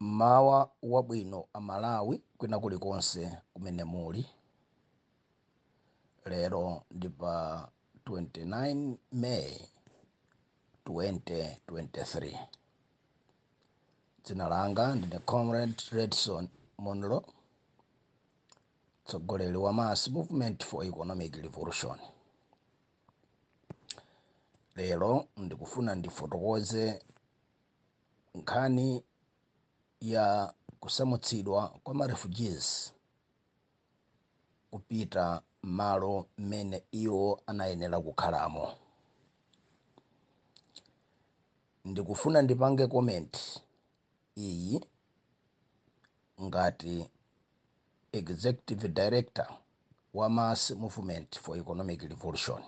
Mmawa wabwino a Malawi kwina kulikonse kumene muli. Lero ndi pa 29 May 2023. Dzina langa ndine Comrade Redson Munlo, mtsogoleri wa Mass Movement for Economic Revolution. lero ndikufuna ndifotokoze nkhani ya kusamutsidwa kwa ma refugees kupita m'malo mmene iwo anayenera kukhalamo ndikufuna ndipange comment iyi ngati executive director wa mass movement for economic revolution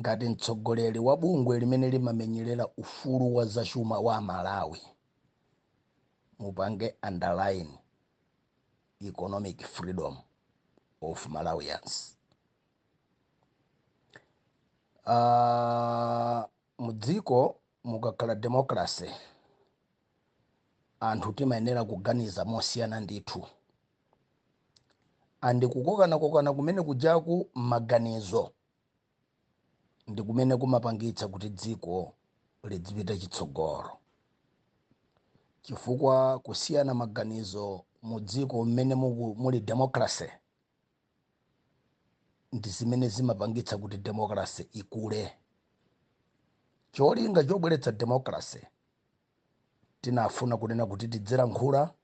ngati mtsogoleri wa bungwe limene limamenyerera ufulu wa zachuma wa amalawi mupange underline economic freedom of malawians Mudziko mukakhala democracy anthu timayenera kuganiza mosiyana ndithu and kukokanakokana kumene kujaku mmaganizo ndikumene kumapangitsa kuti dziko lidzipita chitsogolo chifukwa kusiyana maganizo mudziko mmene muli democracy ndi zimene zimapangitsa kuti democracy ikule cholinga chobweretsa democracy tinafuna kunena kuti tidzilankhula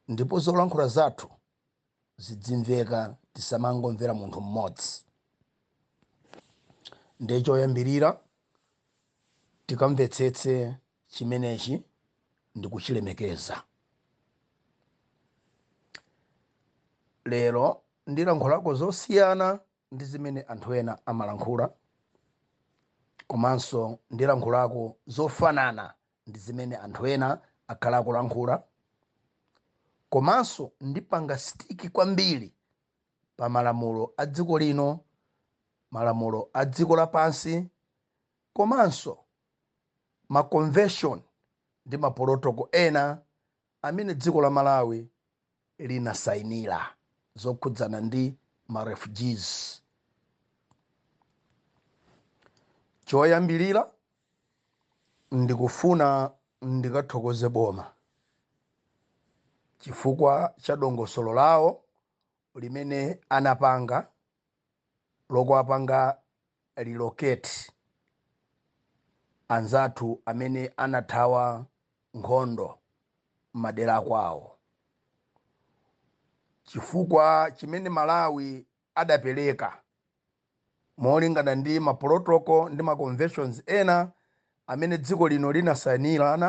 ndipo zolankhula zathu zidzimveka tisamangomvera munthu mmodzi ndiye choyambirira tikamvetsetse chimenechi ndi kuchilemekeza. Lero ndilankhulako zosiyana ndi zimene anthu ena amalankhula komanso ndilankhulako zofanana ndi zimene anthu ena akhala akulankhula komanso ndipanga stick kwambiri pa malamulo a dziko lino malamulo a dziko lapansi komanso ma convention ndi ma protocol ena amene dziko la Malawi linasainila zokhudzana ndi ma refugees. Choyambilila ndikufuna ndikathokoze boma chifukwa cha dongosolo lawo limene anapanga. lokuwapanga relocate anzathu amene anathawa nkhondo mmadera akwawo. Chifukwa chimene Malawi adapereka molingana ndi ma protocol ndi ma conventions ena amene dziko lino linasainirana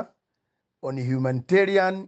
on humanitarian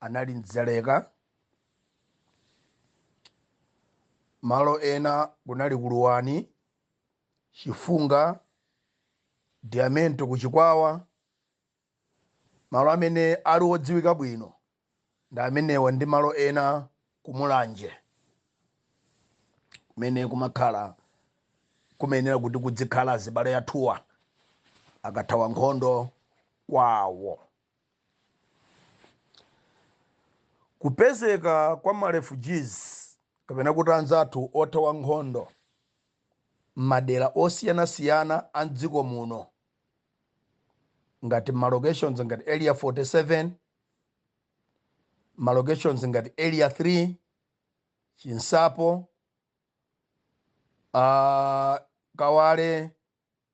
anali Dzaleka. Malo ena kunali ku Luwani, Chifunga, Diamento ku Chikwawa. Malo amene ali odziwika bwino ndi amenewa ndi malo ena ku Mulanje kumene kumakhala kumayenera kuti kudzikhala azibale athuwa akathawa nkhondo kwawo. Kupezeka kwa ma refugees kapena kuti anzathu othawa nkhondo m'madera osiyanasiyana a m'dziko muno ngati ma locations ngati Area 47, ma locations ngati Area 3, Chinsapo, ah, Kawale,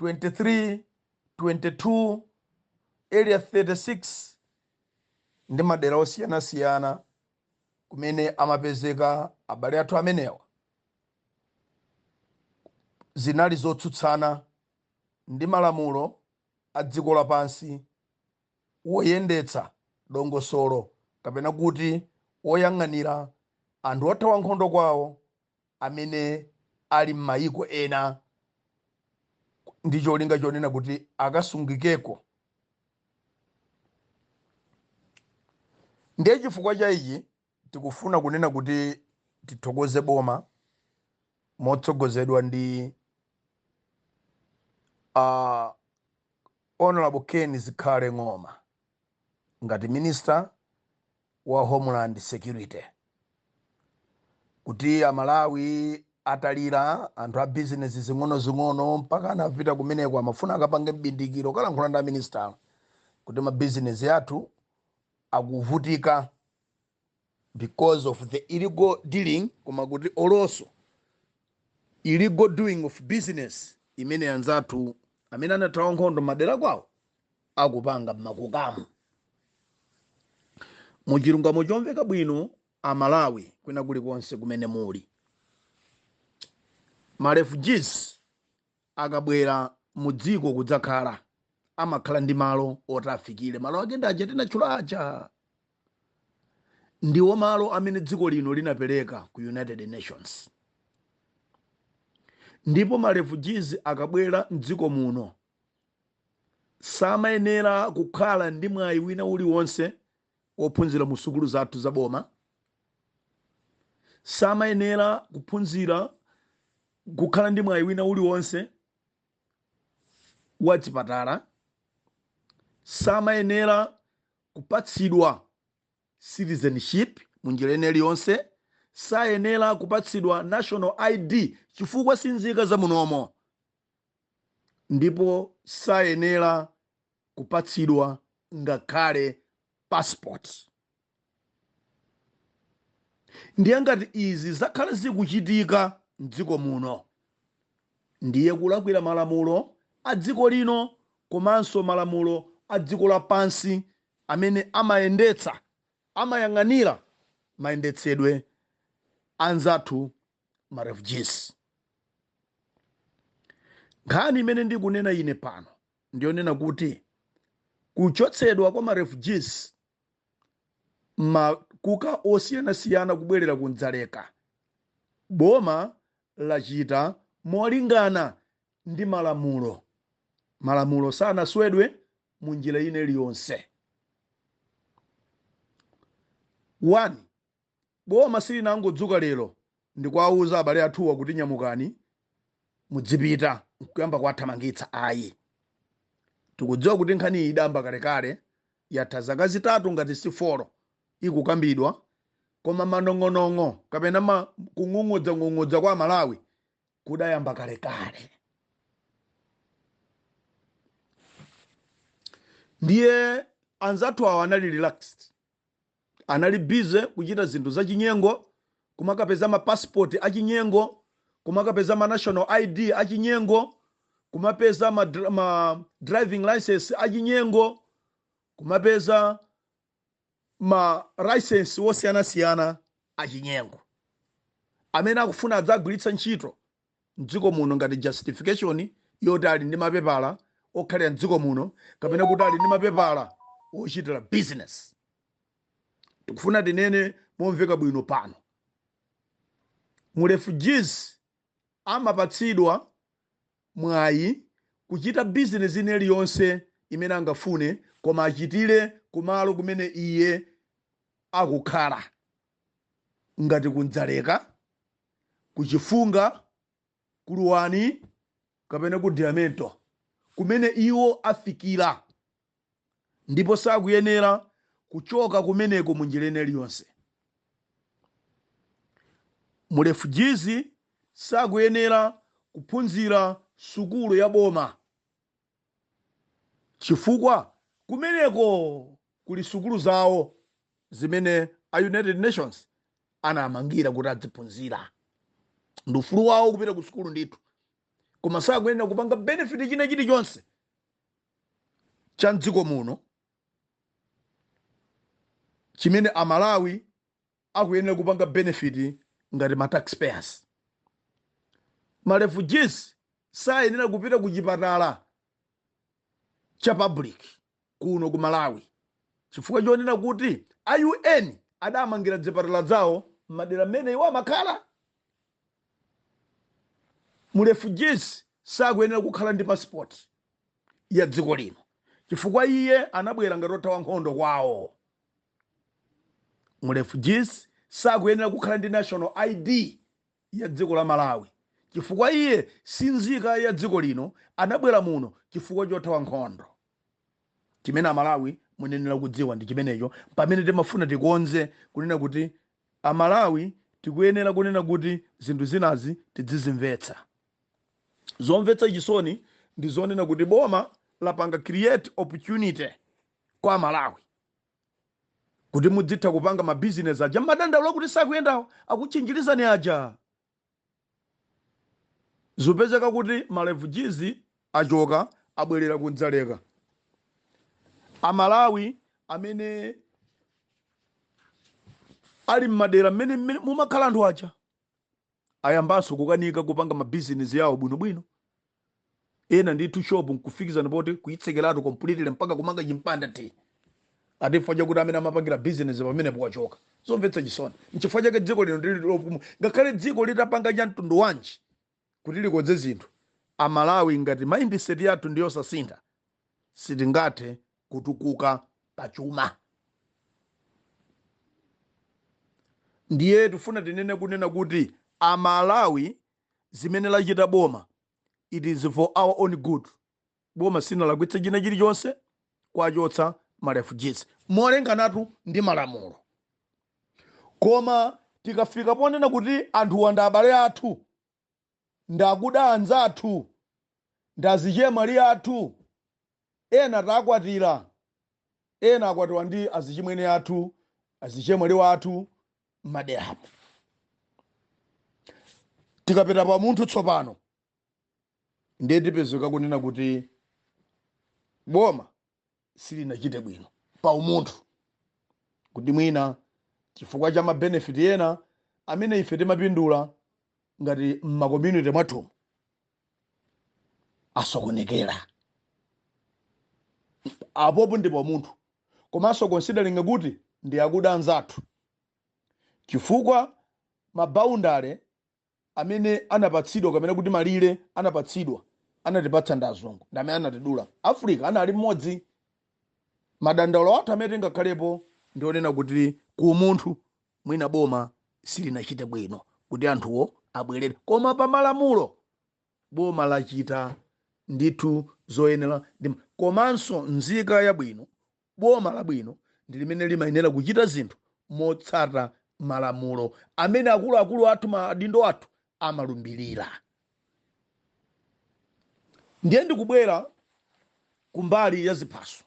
23 22 area 36 ndi madera osiyanasiyana kumene amapezeka abale athu amenewa zinali zotsutsana ndi malamulo a dziko lapansi woyendetsa dongosolo kapena kuti woyang'anira anthu othawa nkhondo kwawo amene ali m'mayiko ena ndi cholinga chonena kuti akasungikeko. Ndiye chifukwa cha ichi tikufuna kunena kuti tithokoze boma motsogozedwa ndi uh, Honorable Ken Zikhale Ng'oma ngati minister wa Homeland Security kuti Amalawi atalira, anthu a bizinesi zing'onozing'ono mpaka anapita kumeneko amafuna akapange m'bindikiro kukalankhula ndi aminisitala kuti mabizinesi athu akuvutika because of the illegal dealing koma kuti also Illegal doing of business imene anzathu amene anathawa nkhondo madera kwawo akupanga mmakukamo. Mu chilungamo chomveka bwino a Malawi kwina kulikonse kumene muli. Ma refugees akabwera mu dziko kudzakhala amakhala ndi malo oti afikire. Malo ake ndi aja tinatchula aja. ndiwo malo amene dziko lino linapereka ku united nations ndipo marefugees akabwera mdziko muno samayenera kukhala ndi mwayi wina uliwonse wophunzira mu sukulu zathu za boma samayenera kuphunzira kukhala ndi mwayi wina uliwonse wa chipatala samayenera kupatsidwa citizenship munjira ina iliyonse, sayenera kupatsidwa national ID chifukwa si nzika za munomo ndipo sayenera kupatsidwa ngakhale passport. Ndiye ngati izi zakhala zikuchitika m'dziko muno, Ndiye kulakwira malamulo a dziko lino komanso malamulo a dziko lapansi amene amayendetsa, amayang'anira mayendetsedwe a anzathu ma refugees. Nkhani imene ndikunena ine pano ndiyonena kuti kuchotsedwa kwa ma refugees m'makuka osiyanasiyana kubwerera ku Dzaleka, boma lachita molingana ndi malamulo. Malamulo sanaswedwe mu njira ina iliyonse. 1, Boma silinangodzuka lero ndikuwauza abale athuwa kuti nyamukani mudzipita nkuyamba kuwathamangitsa ayi. Tikudziwa kuti nkhaniyi idayamba kalekale Yatha zaka zitatu ngati si folo ikukambidwa koma manong'onong'o kapena ma kung'ung'udzang'ung'udza kwa aMalawi kudayamba kalekale. Ndiye anzathu awa anali relaxed Anali busy kuchita zinthu zachinyengo, kumakapeza ma passport achinyengo, kumakapeza ma national ID achinyengo, kumapeza ma, ma driving license achinyengo, kumapeza ma license wosiyanasiyana achinyengo amene akufuna adzagwiritsa ntchito mdziko muno ngati justification yoti ali ndi mapepala okhalira mdziko muno kapena kuti ali ndi mapepala ochitira business tikufuna tinene momveka bwino pano mu refugees amapatsidwa mwayi kuchita business ina iliyonse imene angafune koma achitire kumalo kumene iye akukhala Ngati ku Dzaleka, ku Chifunga, ku Luwani, kapena ku Diamento kumene iwo afikira, ndipo sakuyenera kuchoka kumeneko munjira ina iliyonse. Mu refugees sakuyenera kuphunzira sukulu ya boma. Chifukwa kumeneko kuli sukulu zawo zimene a United Nations anamangira kuti adziphunzira. Ndi ufulu wawo kupita ku sukulu ndithu, koma sakuyenera kupanga benefit china chilichonse cha mdziko muno chimene Amalawi akuyenera kupanga benefit ngati ma tax payers. Ma refugees sayenera kupita ku chipatala cha public kuno ku Malawi chifukwa chonena kuti a UN adamangira dzipatala zawo m'madera mmene iwo amakhala. Mu refugees sakuyenera kukhala ndi passport ya dziko lino chifukwa iye anabwera ngati othawa nkhondo kwawo. Mu refugees sakuyenera kukhala ndi national ID ya dziko la Malawi chifukwa iye si nzika ya dziko lino anabwera muno chifukwa chothawa nkhondo. Chimene amalawi munayenera kudziwa ndi chimenecho pamene timafuna tikonze kunena kuti a Malawi tikuyenera kunena kuti zinthu zinazi tidzizimvetsa. Zomvetsa chisoni ndi zonena kuti boma lapanga create opportunity. kwa amalawi kuti mudzitha kupanga mabizinesi aja mmadandaula kuti sakuyendawo akutchinjirizani aja zupezeka kuti marefujizi achoka abwerera ku dzaleka amalawi amene ali mmadera mmene mmene mumakhala anthu aja ayambanso kukanika kupanga mabizinesi yawo bwinobwino ena ndithu shop nkufikizana poti kuitsekeratu completely mpaka kumanga chimpanda ti ati chifukwa chakuti amene amapangira bizinesi pamenepo wachoka zomvetsa chisoni nchifukwa chake dziko lino ndili lopuma ngakhale dziko litapanga cha mtundu wanji kuti likonze zinthu amalawi ngati mindset yathu ndiyosasintha sitingathe kutukuka pa chuma. Ndiye tifuna tinene kunena kuti a Malawi zimene lachita boma it is for our own good. Boma sinalakwitse china chilichonse kwachotsa ma refugees molinganatu ndi malamulo. Koma tikafika ponena kuti anthuwa ndi abale athu ndi akuda anzathu ndi azichemwali athu ena takwatira ena akwatiwa ndi azichimwene athu azichemwali wathu m'maderamo tikapita pa umunthu tsopano ndiye tipezeka kunena kuti boma silinachite bwino pa umunthu kuti mwina chifukwa cha mabenefit ena amene ife timapindula ngati mmakommunity mwathumu asokonekera apopo ndi pa umunthu komanso considering kuti ndi akuda anzathu chifukwa maboundary amene anapatsidwa kapena kuti malire anapatsidwa anatipatsa ndi azungu ndi amene anatidula africa anali mmodzi madandaulo athu amene tingakhalepo ndi wonena kuti ku umunthu mwina boma silinachite bwino kuti anthuwo abwerere koma pa malamulo boma lachita ndithu zoyeneradi komanso nzika yabwino Boma labwino ndi limene limayenera kuchita zinthu motsata malamulo amene akuluakulu athu, maadindo athu amalumbirira. Ndiye ndikubwera kumbali ya ziphaso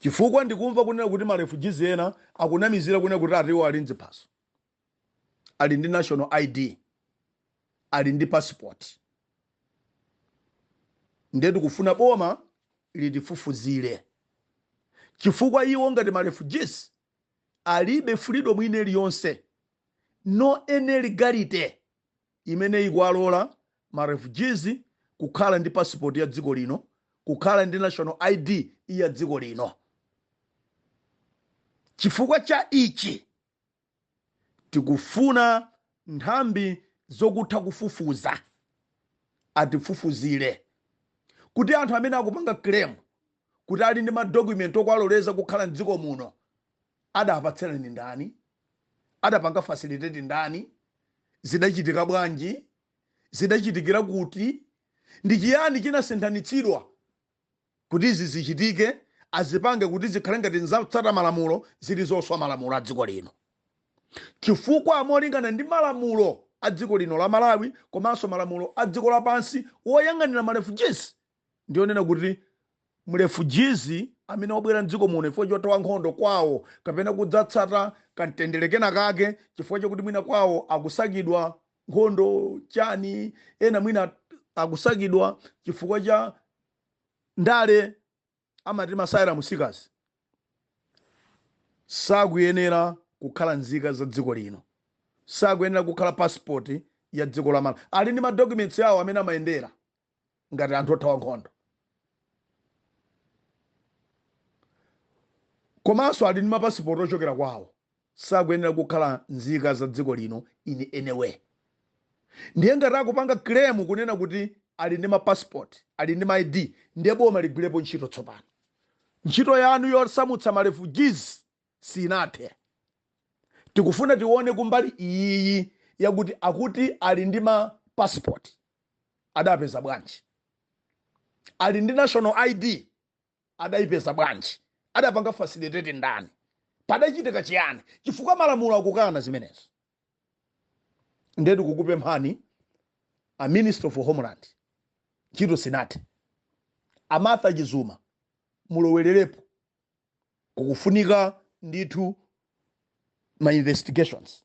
chifukwa ndikumva kunena kuti ma refugees ena akunamizira kunena kuti ati iwo ali ndi ziphaso. ali ndi national id ali ndi passport ndiye tikufuna boma litifufuzire chifukwa iwo ngati ma refugees alibe freedom ina iliyonse no any legality imene ikuwalola ma refugees kukhala ndi passport ya dziko lino kukhala ndi national id ya dziko lino chifukwa cha ichi Tikufuna nthambi zokutha kufufuza atifufuzire kuti anthu amene akupanga claim kuti ali ndi ma document owaloleza kukhala mdziko muno adapatsirana ndi ndani? Adapanga facilitate ndani? Zidachitika bwanji? Zidachitikira kuti? Ndi chiyani chinasinthanitsidwa? Kuti izi zichitike azipange kuti zikhale ngati zatsata malamulo zili zoswa malamulo a dziko lino chifukwa molingana ndi malamulo a dziko lino la Malawi komanso malamulo a dziko lapansi oyang'anira ma refugees ndi onena kuti m'refugee amene wabwera m'dziko muno chifukwa chothawa nkhondo kwawo kapena kudzatsata kamtendere kena kake chifukwa chakuti mwina kwawo akusakidwa nkhondo chani ena mwina akusakidwa chifukwa cha ndale amati ma asylum seekers sakuyenera kukhala nzika za dziko lino sakuyenera kukhala passport ya dziko la Malawi ali ndi madocuments awo amene amayendera ngati anthu othawa nkhondo komanso ali ndi mapasipoti ochokera kwawo sakuyenera kukhala nzika za dziko lino in any way. Ndiye ngati akupanga claim kunena kuti ali ndi ma passport, ali ndi ma ID, ndiye boma ligwirepo ntchito tsopano. Ntchito yanu yosamutsa ma refugees sinathe. Tikufuna tione kumbali iyiyi yakuti akuti ali ndi ma passport, adapeza bwanji? Ali ndi national ID, adaipeza bwanji? adapanga facilitate ndani? padachitika chiyani? chifukwa malamulo akukana zimenezo. ndiye tikukupemphani a minister for homeland ntchito sinathe a Martha Chizuma mulowererepo kukufunika ndithu ma investigations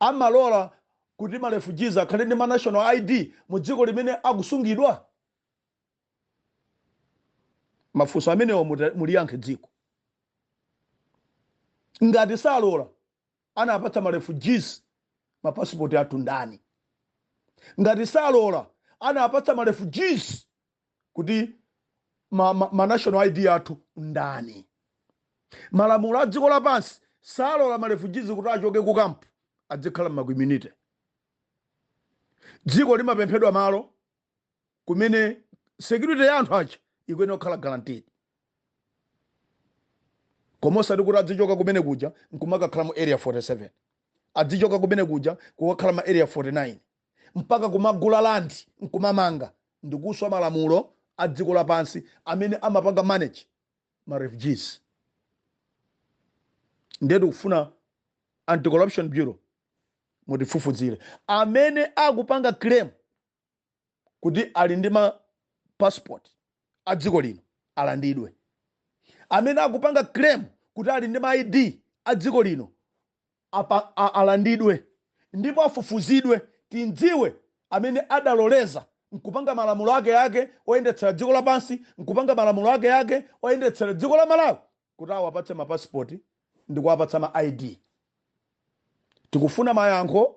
amalola kuti ma refugees akhale ndi ma national id mu dziko limene akusungidwa mafunso amenewa muliyankhe dziko ngati salola anapatsa ma refugees mapasipoti athu ndani ngati salola anapatsa ma refugees kuti ma, ma, ma national id athu ndani malamulo a dziko lapansi salola malefujizi kuti achoke ku kampu adzikhala m'ma community dziko limapemphedwa malo kumene security ya anthu aja ikuyenera kukhala guaranteed koma osati kuti adzichoka kumene kuja nkumakakhala mu area 47 adzichoka kumene kuja kukakhala ma area 49 mpaka kumagula land nkumamanga ndikuswa malamulo a dziko lapansi amene amapanga manage ma refugees ndiye tikufuna anti-corruption bureau mutifufuzire amene akupanga claim kuti ali ndi ma passport a dziko lino alandidwe amene akupanga claim kuti ali ndi ma id a dziko lino alandidwe ndipo afufuzidwe timdziwe amene adaloleza nkupanga malamulo ake ake oyendetsera dziko lapansi nkupanga malamulo ake ake oyendetsera dziko la malawi kuti awapatse mapasipoti ndi kuwapatsa ma id tikufuna mayankho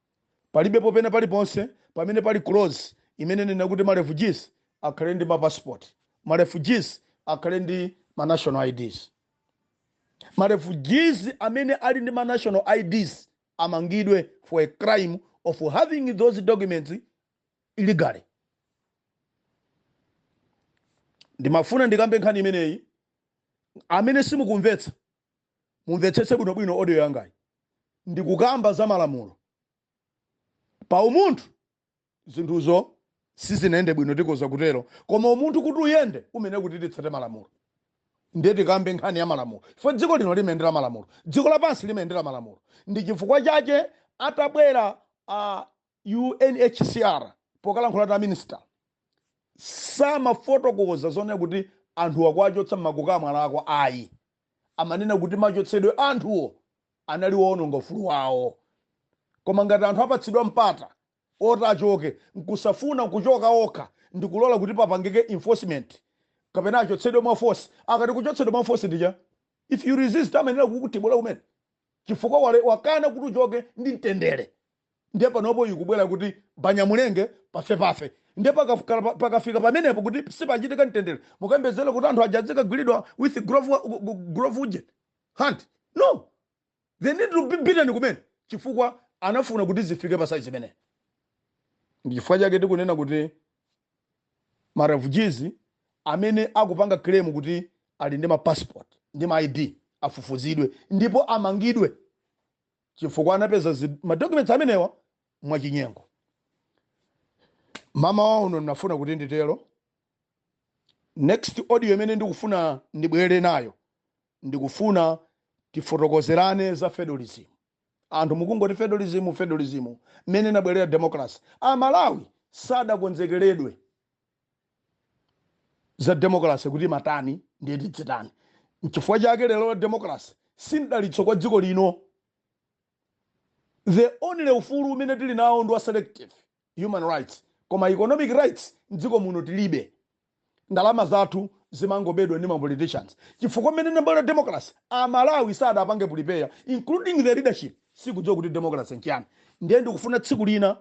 palibepo pena paliponse pamene pali clause imene inena kuti ma refugees akhale ndi ma passport ma refugees akhale ndi ma national ids ma refugees amene ali ndi ma national ids amangidwe for a crime of having those documents illegally ndimafuna ndikambe nkhani imeneyi amene simukumvetsa mumvetsetse bwinobwino audio yangayi ndikukamba za malamulo pa umunthu zinthuzo sizinayende bwino tikoza kutero koma umunthu kuti uyende umene kuti titsate malamulo ndiye tikambe nkhani ya malamulo chifukwa dziko lino limayendera malamulo dziko lapansi limayendera malamulo ndi chifukwa chache atabwera a UNHCR pokalankhula ndi a minister samafotokoza zonena kuti anthuwa kuwachotsa m'makoka mwalakwika ayi. Amanena kuti machotsedwe a anthuwo anali oononga ufulu wawo. Koma ngati anthu apatsidwa mpata oti achoke nkusafuna kuchoka okha ndikulola kuti papangike enforcement kapena achotsedwe mwa force, akati kuchotsedwa mwa force ndi chani? If you resist amayenera kukutibula kumene chifukwa wale, wakana kuti uchoke ndi mtendere. ndiye panopo ikubwera kuti banyamulenge pafepafe ndiye pakafika pa- pakafika pamenepo kuti sipachitika mtendere mukayembekezere kuti anthu aja adzikagwiridwa with glove glove uje hand no they need to be beaten kumene chifukwa anafuna kuti zifike pa size imeneyo ndi chifukwa chake tikunena kuti ma refugees amene akupanga claim kuti ali ndi ma passport ndi ma id afufuzidwe ndipo amangidwe chifukwa anapeza zi- ma documents amenewa mwachinyengo mama wa uno ndinafuna kuti nditero next audio imene ndikufuna ndibwere nayo ndikufuna tifotokozerane za federalism anthu mukungoti federalism federalism mmene inabwerera democracy amalawi sadakonzekeredwe za democracy kuti matani ndiye tidzitani nchifukwa chake lero democracy si mdalitso kwa dziko lino the only ufulu umene tili nawo ndi wa selective human rights koma economic rights mdziko muno tilibe ndalama zathu zimangobedwa ndi mapoliticians chifukwa mmene inabwerera democracy amalawi sadapange prepare including the leadership sikudziwa kuti democracy nchiyani ndiye ndikufuna tsiku lina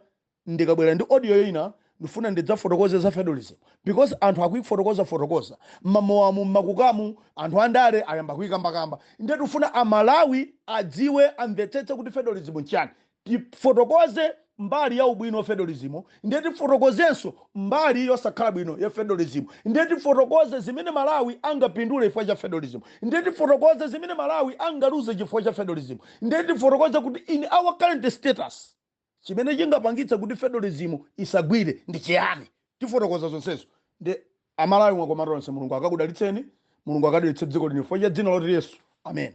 ndikabwera ndi audio ina ndifuna ndidzafotokoze za federalism because anthu akuifotokoza fotokoza mmamowamu mmakukamu anthu andale ayamba kuikambakamba nde tifuna amalawi adziwe amvetsetse kuti federalism nchani tifotokoze mbali ya ubwino wa federalism nde tifotokozenso mbali yosakhala bwino ya federalism nde tifotokoze zimene malawi angapindule chifukwa cha federalism nde tifotokoze zimene malawi angaluze chifukwa cha federalism nde tifotokoze kuti in our current status chimene chingapangitse kuti federalism isagwire ndi chiyani tifotokoza zonsezo ndiye amalawi mwakomatonse mulungu akakudalitseni mulungu akadalitse dziko lino chifukwa cha dzina loti yesu amen